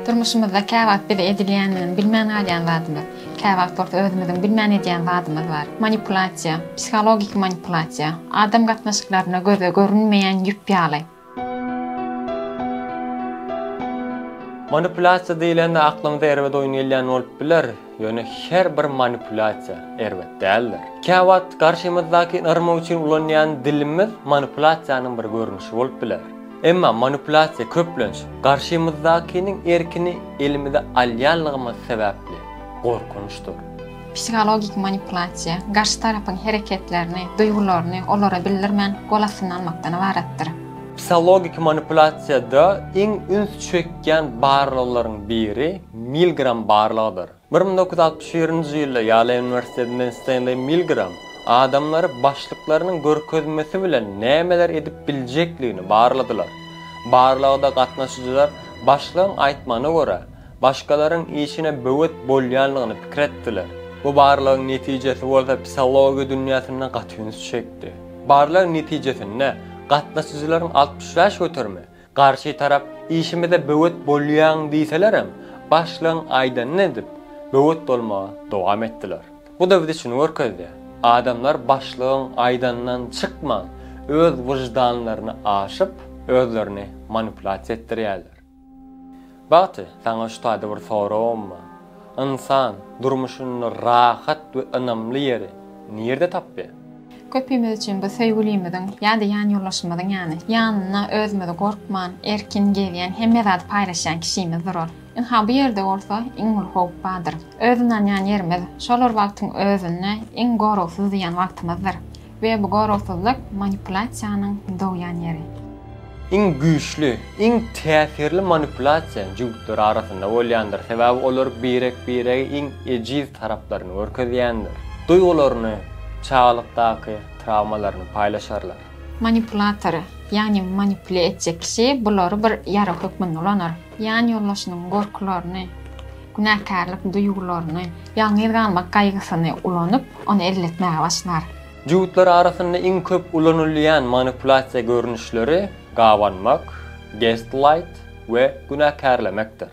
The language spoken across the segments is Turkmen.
Durmuşymyzda käwagt bize edilýändigini bilmän galýan zadymyz, käwagt bolsa özümiziň bilmän edýän zadymyz bar. Manipulasiýa, psihologiki manipulasiýa, adam gatnaşyklarynda göze görünmeýän ýüp ýaly. Manipulasiýa diýlende aklymyza erbet oýun gelýän bolup biler, ýöne her bir manipulasiýa erbet däldir. Käwagt garşymyzdakyny yrmak üçin ulanýan dilimiz manipulasiýanyň bir görnüşi bolup biler. Emma manipulýasiýa köplenç garşymyzdakiniň erkini elimize alýanlygymyz sebäpli gorkunçdyr. Psihologik manipulasiýa garşy tarapyň hereketlerini, duýgularyny olara bildirmän gol astynda almakdan ybaratdyr. Psihologik manipulasiýada iň üns çekýän barlaglaryň biri Milgram barlagydyr. Bir müň dokuz ýüz altmyş birinji ýylda Ýale uniwersitetinden Stenleý Milgram adamlary başlyklarynyň görkezmesi bilen nämeler edip biljekligini barladylar. Barlagda gatnaşyjylar başlygyň aýtmagyna görä, başgalaryň işine böwet bolýanlygyny pikir etdiler. Bu barlagyň netijesi bolsa psihologiýa dünýäsinde gaty üns çekdi. Barlagyň netijesinde gatnaşyjylaryň altmyş bäş göterimi Garşy tarap işimize böwet bolýaň diýselerem, başlygyň aýdanyny edip, böwet bolmagy dowam etdiler. Bu-da biz üçin görkezdi, adamlar başlygyň aýdanyndan çykman, öz wyždanlaryny aşyp, özlerini manipulasiýa etdirýärler. Bagty, saňa şu taýda bir soragym bar. Ynsan durmuşynda rahat we ynamly ýeri nirde tapýar? Köpimiz üçin bu söýgülimiziň ýa-da ýanýoldaşymyzyň ýany. Ýanynda özümizi gorkman, erkin gezýän, hemme zady paýlaşýan kişimiz durar. Ynha bu ýerde bolsa iň uly howp bardyr. Öz ynanýan ýerimiz, şol bir wagtyň özünde iň goragsyz diýen wagtymyzdyr. We bu goragsyzlyk manipulasiýanyň dogýan ýeri. Iň güýçli, iň täsirli manipulasiýa jübütler arasynda bolýandyr, sebäbi olar birek-birege iň ejiz taraplaryny görkezýändir. Duýgularyny, çagalykdaky trawmalaryny paýlaşarlar. Manipulator, ýagny manipule etjek kişi bulary bir ýarag hökmünde ulanar. ýanýoldaşynyň gorkularyny, günäkärlik duýgularyny, ýalňyz galmak gaýgysyny ulanyp, ony elletmäge başlar. Ýuwutlar arasynda iň köp ulanylýan manipulasiýa görnüşleri gabanmak, gestlaýt, we günäkärlemekdir.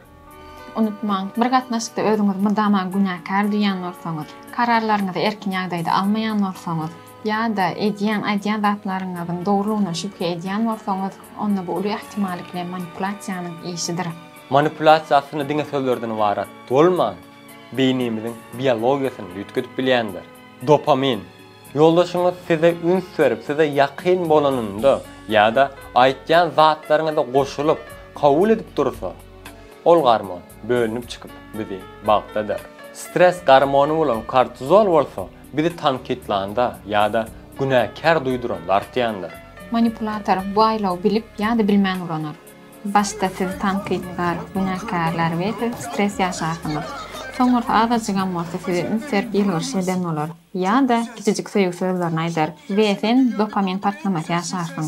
Unutmaň, bir gatnaşykda özüňizi mydama günäkär duýýan bolsaňyz, kararlaryňyzy erkin ýagdaýda almaýan bolsaňyz, Ýa-da edýän, aýdýan zatlaryňyzyň dogrulygyna şübhe edýän bolsaňyz, onda bu uly ähtimallyk bilen manipulasiýanyň işidir. Manipulasiýa aslynda diňe sözlerden ybarat bolman, beýnimiziň biologiýasyny üýtgedip bilýändir. Dopamin. Ýoldaşyňyz size üns berip, size ýakyn bolanynda ýa-da aýtýan zatlaryňyza goşulyp, kabul edip dursa, ol gormon bölünip çykyp, bizi bagtladyr. Stres gormony bolan kortizol bolsa, Bizi tankytlanda ýa-da günäkär duýduran dartýandyr. Manipulator bu aýlawy bilip ýa-da bilmän ulanar. Başda siz tankytkar, günäkärler we siz stres ýaşarsyňyz. Soňursa azajygam bolsa size üns berip ýylgyryş eden bolar ýa-da kiçijik söýgi sözlerini aýdar we sen dopamin partlamasy ýaşarsyň.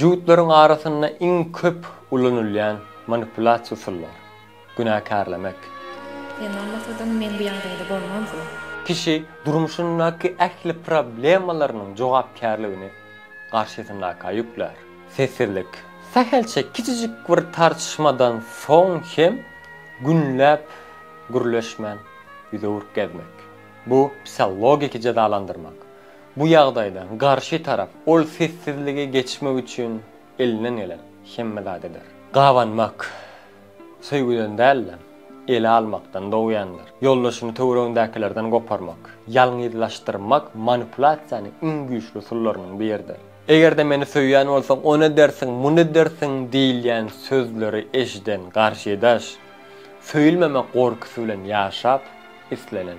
Juwutlaryň arasynda iň köp ulanylýan manipulasiýa usullary, günäkärlemek. Sen bolmasadyň men bu ýagdaýda bolmazdy. Kişi durmuşyndaky ähli problemalarynyň jogapkärligini garşysyndakyga ýüklär. Sessizlik. Sähelçe kiçijik bir tartyşmadan soň hem günläp gürleşmän ýüzüwürk gezmek. Bu psihologiki jezalandyrmak. Bu ýagdaýda garşy tarap ol sessizligi geçmek üçin elinden gelen hemme zat eder. Gabanmak, söýgüden däl-de, ele almakdan dogýandyr. Ýoldaşyny töweregindäkilerden goparmak, ýalňyzlaşdyrmak manipulasiýanyň iň güýçli usullarynyň biridir. Eger-de meni söýýän bolsaň, ony edersiň, muny edersiň diýilýän sözleri eşiden garşydaş, söýülmemek gorkusy bilen ýaşap, islenen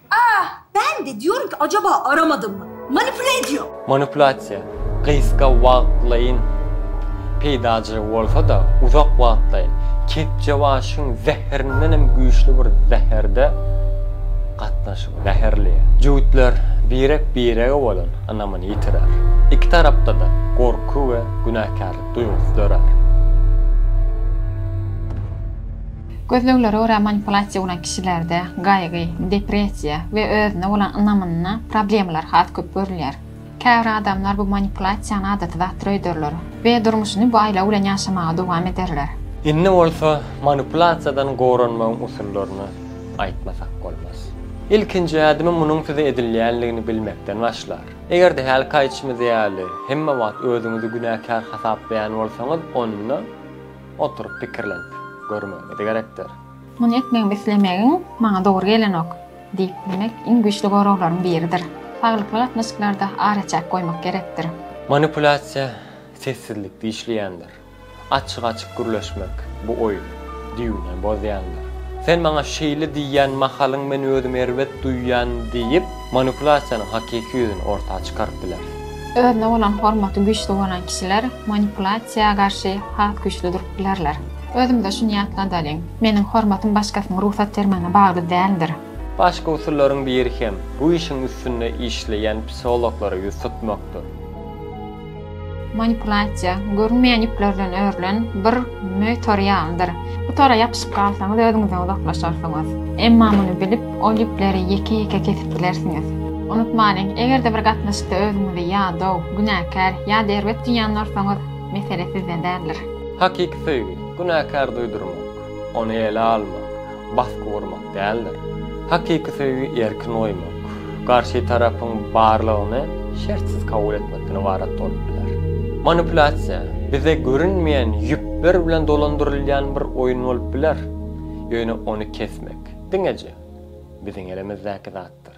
Aah! Ben de diyorum ki acaba aramadım mı? Manipule ediyor! Manipulasiýa, gysga wagtlaýyn peýdaja bolsa-da, uzak wagtlaýyn, kepjebaşyň zäherinden hem güýçli bir zäherde gatnaşygy, zäherli. Jübütler birek-birege bolan ynamyny ýitirer. Iki tarapda-da gorky we günäkärlik duýgusy dörär. Gözleglere görä manipulasiýa bolan kişilerde gaýgy, depressiýa we özüne bolan ynamynda problemalar has köp görülýär. Käbir adamlar bu manipulasiýany adaty zat döýderler we durmuşyny bu aýlaw bilen ýaşamaga dowam ederler. Indi bolsa manipulasiýadan goranmagyň usullaryny aýtmasak bolmaz. Ilkinji ädimi munuň size edilýänligini bilmekden başlar. Eger-de hälki aýdyşymyz ýaly hemme wagt özüňizi günäkär hasaplaýan bolsaňyz onda, Oturyp pikirlenip görmegimiz gerekdir. Muny etmegimi islemegiň maňa dogry gelenok diýip bilmek iň güýçli goraglaryň biridir. Saglykly gatnaşyklarda araçäk goýmak gerekdir. Manipulýasiýa sessizlikde işleýändir. Açyk-açyk gürleşmek bu oýny düýbünden bozýandyr. Sen maňa şeýle diýýän mahalyň men özümi erbet duýýan diýip, manipulýasiýanyň hakyky ýüzüni orta çykaryp biler. Özüne bolan hormaty güýçli bolan kişiler manipulasiýa garşy has güýçli durup bilerler. Özümize şuny ýatladalyň, meniň hormatym başgasynyň rugsat bermegine bagly däldir. Başga usullaryň biri hem bu işiň üstünde işleýän psihologlara ýüz tutmakdyr. Manipulasiýa, görünmeýän ýüplerden örülen bir möý tory ýalydyr. Bu tora ýapyşyp galsaňyz özüňizden uzaklaşarsyňyz. Emma muny bilip, Ol ýüpleri ýeke-ýeke kesip bilersiňiz. Unutmalyň, eger-de bir gatnaşykda özüňizi ýadaw, günäkär ýa-da erbet duýan bolsaňyz, mesele sizde däldir. Hakyky söýgi, günäkär duýdurmak, ony ele almak, basgy gurmak däldir. Hakyky söýgi erkin goýmak, garşy tarapyň barlygyny şertsiz kabul etmekden ybarat bolup biler. Manipulasiýa, bize görünmeýän ýüpler bilen dolandyrylýan bir oýun bolup biler, ýöne ony kesmek, diňeje biziň elimizdäki zatdyr.